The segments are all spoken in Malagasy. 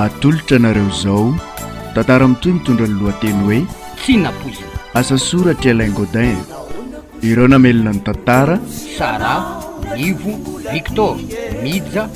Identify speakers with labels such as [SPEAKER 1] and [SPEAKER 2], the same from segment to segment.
[SPEAKER 1] atolotra anareo izao tantara mitoy mitondra ny lohateny hoe tsinapoizina
[SPEAKER 2] asa soratra
[SPEAKER 1] Alain Godin ireo namelona ny tantara Sara
[SPEAKER 2] Nivo Victor Mija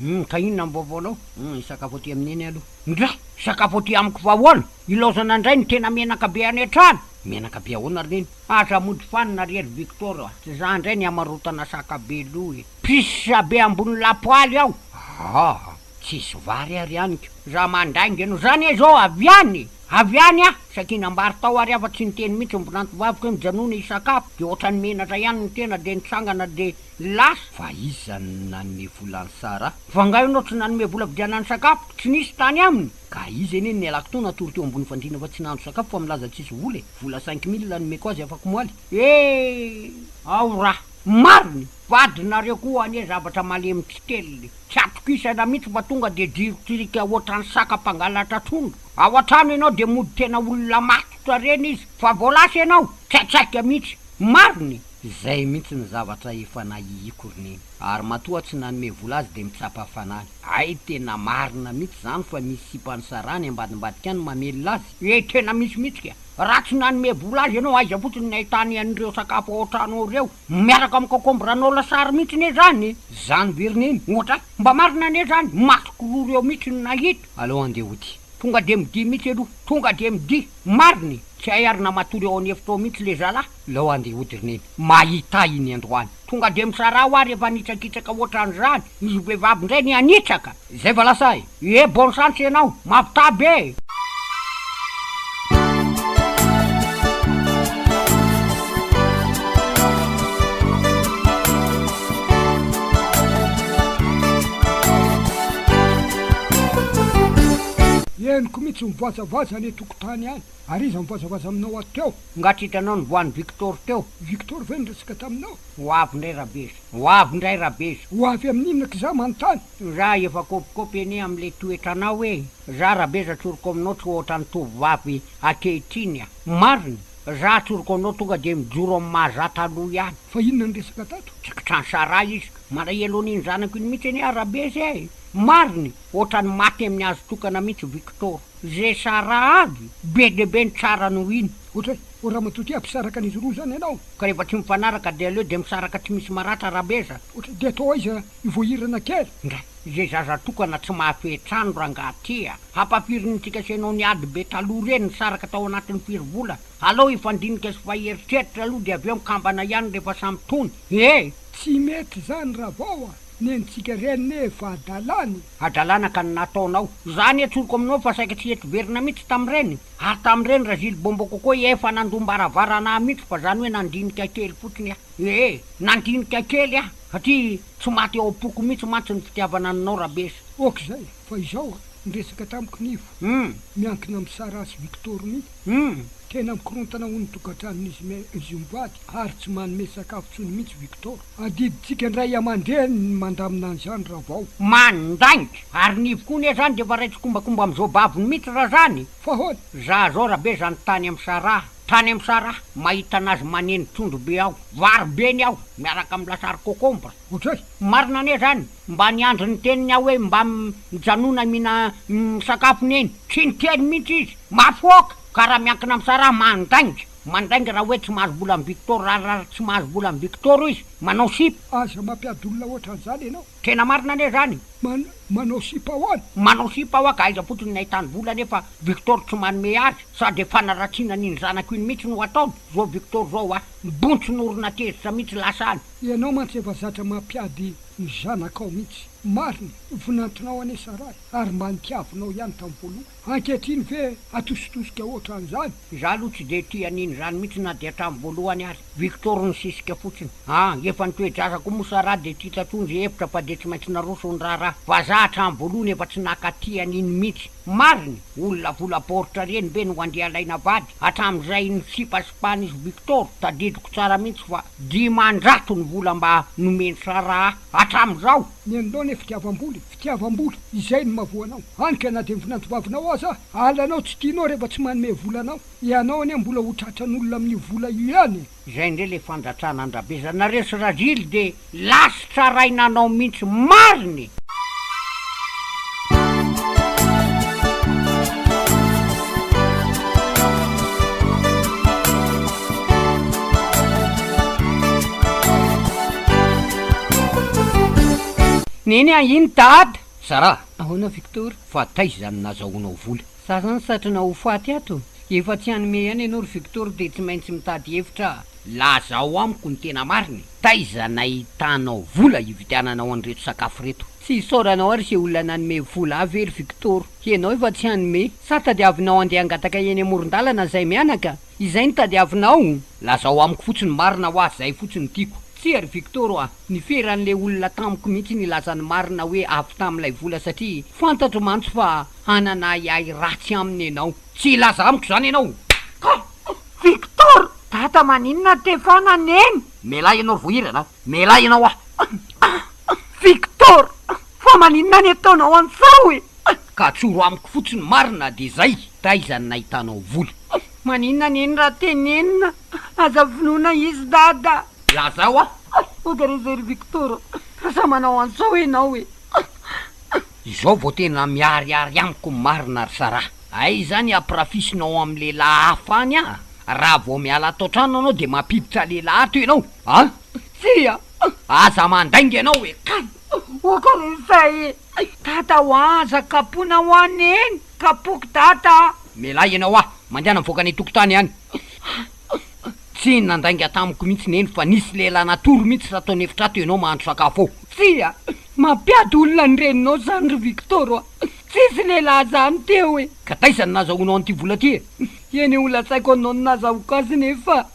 [SPEAKER 2] Humm ka inona ny vaovao anao? Humm hisakafo aty amin'i Neny aloha. Ndra! Hisakafo aty amiko fa ahoana? Ilaozana indray ny tena menaka be any an-trano! Menaka be ahoana ry Neny? Aza mody fanina ry ry Victor a! Tsy za indray ny hamarotana saka be loha e! Pisse be ambony lapoaly ao! Ahh! Tsisy vary ary haniko! Za mandainga anao! Za anie izao avy any e! Avy any aho! Sakinam-bary tao ary aho fa tsy niteny mihitsy ny mpinantovaviko hoe mijanona hisakafo dia ohatran'ny menatra ihany ny tena dia nitsangana dia Lasa! Fa iza no nanome vola an'i Sara? Fa nga ianao tsy nanome vola vidianany sakafo? Tsy nisy tany aminy? Ka iza anie no nialako tao natory teo ambony fandriana fa tsy nahandro sakafo fa milaza tsisy vola e? Vola cinq mille nomeko azy afakomaly e! Ao ra! Marina! Vadinareo koa anie zavatra malemy tsy teliny! Tsy atokisana mihitsy fa tonga dia jiro tsirika hoatran'ny saka mpangalatra trondro! Ao an-trano ianao dia mody tena olona matotra reny izy fa vao lasa ianao! Tsy atsaika mihitsy! Marina e! Izay mintsy ny zavatra efa nahihiako ry neny. Ary matoa tsy nanome vola azy dia mitsapa fanany. Hay tena marina mitsy zany fa misy sipa nisarahany ambadimbadika any mamelona azy. Ee tena misy mitsy ka. Raha tsy nanome vola azy enao aiza fotsiny ny ahitany an'ireo sakafo ao an-trano ao ireo miaraka amin'ny concombre anao lasary mitsy ne zany. Zany ve ry neny? Ohatra a! Mba marina anie zany? Masoko roa reo mitsy no nahita. Aleo andeha hody. Tonga dia midia mitsy aloha. Tonga dia midia. Marina e! Tsy hay ary na matory ao an'efitra ao mitsy le zalahy. Leo andeha hody ry neny. Mahita iny androany. Tonga dia misarà hoa rehefa hanitsakitraka hoatran'izany. Izy vehivavy indray ny hanitsaka. Zay va lasa e! Ie bonne chance ianao. Mampitaha be e! Henoko
[SPEAKER 3] mihitsy mivoazavoaza any an-tokotany any. Ary iza mivazabaza aminao ato teo? Nga tsy hitanao ny voan'i
[SPEAKER 2] Victor teo? Victor ve niresaka
[SPEAKER 3] taminao? Ho avy indray Rabeza.
[SPEAKER 2] Ho avy indray Rabeza. Ho avy amin'inona aky za
[SPEAKER 3] manontany? Za efa
[SPEAKER 2] kôpikôpy anie amin'ilay toetranao e! Za Rabeza tsoriko aminao tsy ohatran'ny tovovavy ankehitriny a! Marina! Za tsoriko anao tonga dia mijoro amin'ny maha za taloha ihany. Fa inona ny resaka
[SPEAKER 3] tato? Tsy kitran'i Sarah izy
[SPEAKER 2] ka! Malahelo an'iny zanako iny mihitsy anie aho Rabeza e! Marina e! Ohatran'ny maty amin'ny hazo tokana mihitsy Victor. Ze Sara aby be dia be ny tsarany ho iny. Ohatra hoe ramatoa
[SPEAKER 3] tia mpisaraka an'izy roa zany ianao ka rehefa tsy mifanaraka
[SPEAKER 2] dia aleo dia misaraka tsy misy maratra rabezana. Ohatra dia atao aiza
[SPEAKER 3] io vao hirana kely. Ndra ze zaza
[SPEAKER 2] tokana tsy mahafehy trano rangah tia hampafirin'ny tsika sy ianao ny ady be taloha reny nisaraka tao anatin'ny firy volana. Alao hifandinika sy fahy eritreritra aloha dia avy eo mikambana ihany rehefa samy tony ee. Tsy
[SPEAKER 3] mety zany ravao a! nenitsika reny ne vadalany. hadalana
[SPEAKER 2] ka ny nataonao. Za anie tsoriko aminao fa saika tsy hety verina mitsy tamreny, ary tamreny razily bombo kokoa efa nandom-baravarana ahy mitsy fa zany hoe nandinika kely fotsiny aho ee, nandinika kely aho satria tsy maty ao am-poko mitsy mantsy ny fitiavana anao Rabesa. Ok zay, fa
[SPEAKER 3] izao an, ny resaka tamiko Nivo, miankina am Sarah sy Victor mitsy, tena mikorontana ho ny tokantranon'izy mivady ary tsy manome sakafo tsony mitsy Victor. Adidintsika indray aman-dreny ny mandamina an'izany raha vao. Mandainga.
[SPEAKER 2] Ary ny ivoko anie zany dia efa ray tsikombakomba amin'izao babony mihitsy raha zany. Fa ahoana? Za
[SPEAKER 3] zao rabe zany
[SPEAKER 2] tany am saraha, tany am saraha, mahita anazy maneno trondro be aho, vary be ny aho miaraka am lasary cocombre. Ohatray. Marina
[SPEAKER 3] anie zany,
[SPEAKER 2] mba niandry ny teniny aho hoe mba mijanona mihina misakafo neny, tsy niteny mihitsy izy. Mafoaka! Ka raha miankina am saraha mandainga. Mandainga raha hoe tsy mahazo vola amin'i Victor raharary tsy mahazo vola amin'i Victor izy. Manao sipa. Aza mampiady olona
[SPEAKER 3] ohatran'izany ianao. Tena marina anie izany.
[SPEAKER 2] Man, manao sipa
[SPEAKER 3] ahoana? Manao sipa hoa ka
[SPEAKER 2] aiza fotsiny ny ahitany vola nefa Victor tsy manome azy sa dia fanaratsiana an'iny zanako iny mihitsy no ataony? Zao Victor zao hoa bontsina orona tezitra mihitsy lasa any. Ianao mantsy efa
[SPEAKER 3] zatra mampiady ny zanakao mihitsy. Marina, vonantonao anie sa raha e! Ary mba nitiavinao ihany tamin'ny voalohany. Ankehitriny ve atositosika ohatran'izany? Izaho aloha tsy dia
[SPEAKER 2] tia an'iny izany mihitsy na dia hatramin'ny voalohany aza. Victor nisisika fotsiny. Ah, efa ny toe-jaza koa moa sa raha dia tsy hita tsony izay hevitra fa dia tsy maintsy naroso ny raharaha. Vazaha hatramin'ny voalohany efa tsy nankaty an'iny mihitsy. Marina, olona vola baoritra ireny ve no andeha alaina vady? Hatramin'izay nisipasipahan'izy Victor, tadidiko tsara mihitsy fa dimanjato ny vola mba nomen'i Sarah hatramin'izao! Ny an'ilay ilay
[SPEAKER 3] fitiavam-bola e! fitiavam-bola, izay no mahavoa anao, hany ka na dia vinantovavinao aza, alanao tsy tianao rehefa tsy manome vola anao, ianao anie mbola ho tratran'olona amin'io vola io ihany e! Izay indray ilay
[SPEAKER 2] fandratrana an-dRabeza, nareo sy Rajily dia lasitra arahina anao mihintsy marina e! Neny a! Iny Dada! Sarah, Ahoana Victor? Fa taiza izany nazahoanao vola? Za zany satrina ho faty ato? Efa tsy hanome ihany ianao ry Victor dia tsy maintsy mitady hevitra aho. Lazao amiko ny tena marina e! Taiza nahitanao vola hividiananao an'ireto sakafo ireto? Tsy isaoranao ary izay olona nanome vola ahy ve ry Victor? Ianao efa tsy hanome? Sa tadiavinao handeha hangataka eny amoron-dalana izay mianaka? Izay no tadiavinao? Lazao amiko fotsiny ny marina hoa, izay fotsiny no tiako. Tsia ry Victor a! Nifehy an'ilay olona tamiko mihitsy nilaza ny marina hoe avy tamin'ilay vola satria fantatro mantsy fa hanana ahiahy ratsy aminy ianao. Tsy hilaza amiko izany ianao kah! Victor, Dada maninona Stefana neny? Mialà ianao ry voahirana a! Mialà ianao a! Victor, Fa maninona ny ataonao an'izao e? Ka tsoro amiko fotsiny marina dia izay! Taiza no nahitanao vola? Maninona neny raha tenenina? Aza vonoina izy Dada! Lazao a! Aiza ary izay ry Victor a! Aza manao an'izao ianao e! Izao vao tena miharihary amiko ny marina ry Sarah. Aiza ny hampirafisinao ao amin'ny lehilahy hafa any a! Raha vao miala ato an-trano ianao dia mampiditra lehilahy ato ianao a! Tsia! Aza mandainga ianao e! Kay! Ok ary izay e! Dada o aza kapohina hoa Neny! Kapohiko Dada a! Mialà ianao a! Mandehana mivoaka any an-tokotany any! Tsy nandainga tamiko mihitsy neny fa nisy lehilahy natory mihitsy raha tao ny efitra ato ianao mahandro sakafo ao. Tsia, mampiady olona ny reninao zany ry Victor a! Tsisy lehilahy zany teo e! Ka taiza no nazahoanao an'ity vola ity e? Eny e, ho lazaiko anao ny nazahoako azy neny fa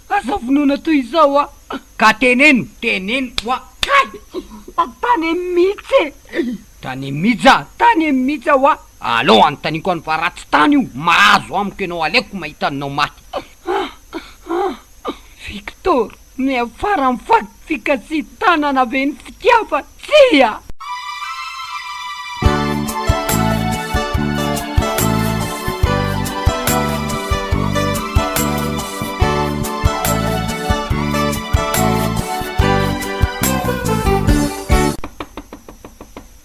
[SPEAKER 2] aza vonoina toy izao a! Ka teneno, teneno hoa! Kay! Tantane mihitsy e! Tane Mija a! Tane Mija wa! Aleo anontaniako anw fa raha tsy tany io mahazo amiko ianao aleoko mahita anao maty Victor, miafara am faty fikasitanana ve ny fitiava? Tsia!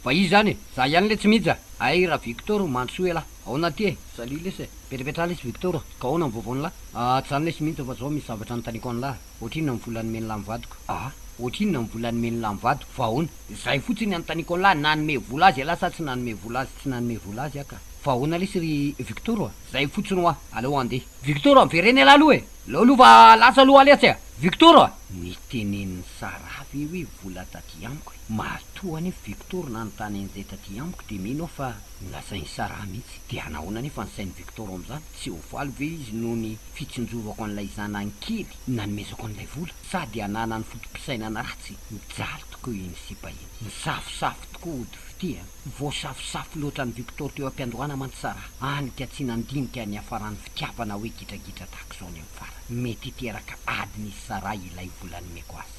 [SPEAKER 2] Fa izy zany e! Za ihany le tsy mijy a! Ay ra Victor o, mandrosoa ialahy! Aona aty e! Salut lesy e! Mipetrapetraha lesy Victor a! Ka aona ny vaovaon'lah? Ahh tsy zany lesy mintsy fa zao misy zavatra anontaniako an'lah! Ohatrinona ny vola nomen'lah ny vadiko? Ahh? Ohatrinona ny vola nomen'lah ny vadiko? Fa aona? Zay fotsiny anontaniako an'lah, nanome vola azy ialahy sa tsy nanome vola azy? Tsy nanome vola azy ah ka! Fa aona lesy ry Victor a! Zay fotsiny hoa! Aleo handeha! Victor a! Miverena ialahy aloha e! Leo aloha fa lasa aloha lesy a! Victor a! Nitenenin'i Sarah ve hoe vola taty amiko e! Matoa anefa Victor nanontany an'izay taty amiko dia mino aho fa nolazain'i Sarah mihitsy. Dia hanahoana anefa ny sain'i Victor amin'izany? Tsy ho faly ve izy noho ny fitsinjovako an'ilay zanany kely nanomezako an'ilay vola? Sa dia hanana ny foto-pisainana ratsy mijaly tokoa iny sipa iny? Nisafosafo tokoa hody fitia. Voasafosafo loatra an'i Victor teo am-piandohana mantsy Sarah, hany ka tsy nandinika niafaran'ny fitiavana hoe gidragidra tahaka izao ny amin'ny farany. Mety hiteraka adina izy Sarah ilay vola nomeko azy.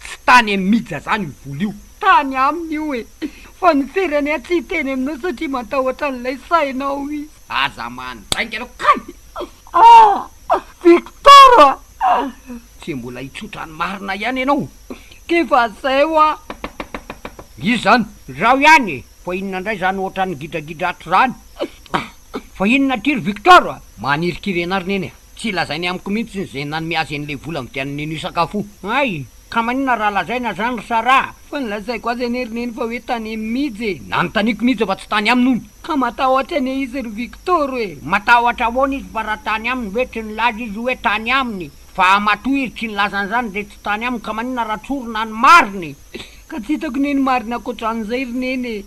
[SPEAKER 2] Tsy tany amin'i Mija zany io vola io. Tany aminy io e!
[SPEAKER 3] Fa ny very any atsy hiteny aminao satria matahotra an'ilay sainao izy. Aza mandainga
[SPEAKER 2] ianao kay! Ah! Victor
[SPEAKER 3] a! Tsy
[SPEAKER 2] mbola hitsotra ny marina ihany ianao k'efa
[SPEAKER 3] zay hoa!
[SPEAKER 2] Iza izany? Izaho ihany e! Fa inona indray izany ohatran'ny gidragidra ato izany? Fa inona aty ry Victor? Manirikiry anareo neny a! Tsy lazainy amiko mihitsy izay nanome azy an'ilay vola nividianany an'io sakafo io. Hay! Ka maninona raha lazaina izany ry Sarah? Fa nolazaiko azy anie ry Neny fa hoe tany aminy mihitsy e! Nanontaniako mihitsy fa tsy tany aminy hono. Ka matahotra anie izy ry Victor e! Matahotra ahoana izy fa raha tany aminy ve? Tsy nilaza izy hoe tany aminy fa matoa izy tsy nilaza an'izany dia tsy tany aminy ka maninona raha tsorina ny marina e! Ka tsy hitako anie ny marina ankoatran'izay ry Neny e!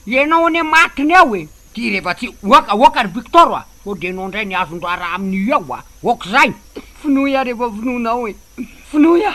[SPEAKER 2] Ianao anie matiny ao e! Ty rehefa tsy oaka oaka ry Victor a! Sao de enao ndray ny azon-draharaha amin'io ao a! Ok'zay! Finoy ary efa finoanao e! Finoy a!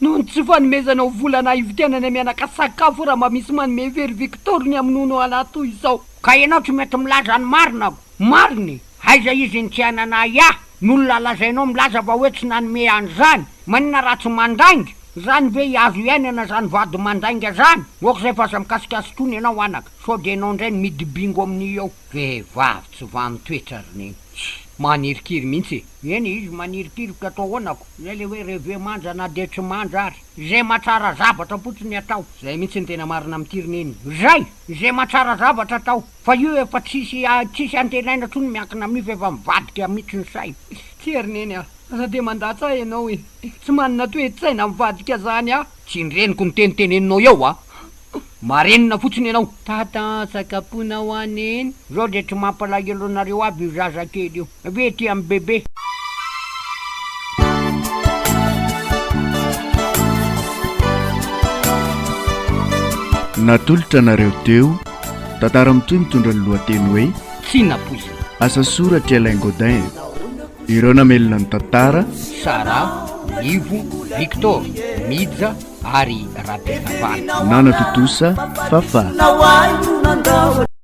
[SPEAKER 2] Noho ny tsy fanomezanao vola na hividianana mianaka sakafo raha mba misy manome ve ry Victor ny hamonoanao anahy toy izao? Ka enao tsy mety milaza ny marina aho! Marina e! Aiza izy ny tsy hananahy ahy? N'olona lazainao milaza fa hoe tsy nanome an'zany! Maninona raha tsy mandainga? Zany ve hiazo hiainana zany vady mandainga zany? Ok'zay f'aza mikasikasik'ony enao anaka! Sao dia enao indray no midibingo amin'io ao? Vehivavy tsy vaha amin'ny toetra ry neny. Tsy. Manirikiry mihitsy e! Eny e, izy manirikiry ka atao ahoana ko? Izay ilay hoe reve manja na dia tsy manja ary. Izay mahatsara zavatra fotsiny ny atao. Izay mihitsy no tena marina amin'ity ry neny. Izay! Izay mahatsara zavatra atao. Fa io efa tsisy tsisy antenaina intsony miankina amin'io fa efa mivadika mihitsy ny saina. Tsia ry neny a! Aza dia mandatsa ahy ianao e! Tsy manana toe-tsaina mivadika izany aho. Tsindreniko ny teniteneninao eo a! Marenina fotsiny ianao. Tata an, sakapona ho an Neny. Zao dia tsy mampalahelo anareo aby io zaza kely io ve tia an'i bebe.
[SPEAKER 1] Natolotra anareo teo, tantara mitohy mitondra ny lohateny hoe. Tsy nampoizina.
[SPEAKER 2] Asa soratr'i
[SPEAKER 1] Alain Gaudin. Ireo namelona ny tantara, Sara,
[SPEAKER 2] Ivo, Victor, Mija ary
[SPEAKER 1] Rabehavana.
[SPEAKER 2] Nanatontosa
[SPEAKER 4] Fafah.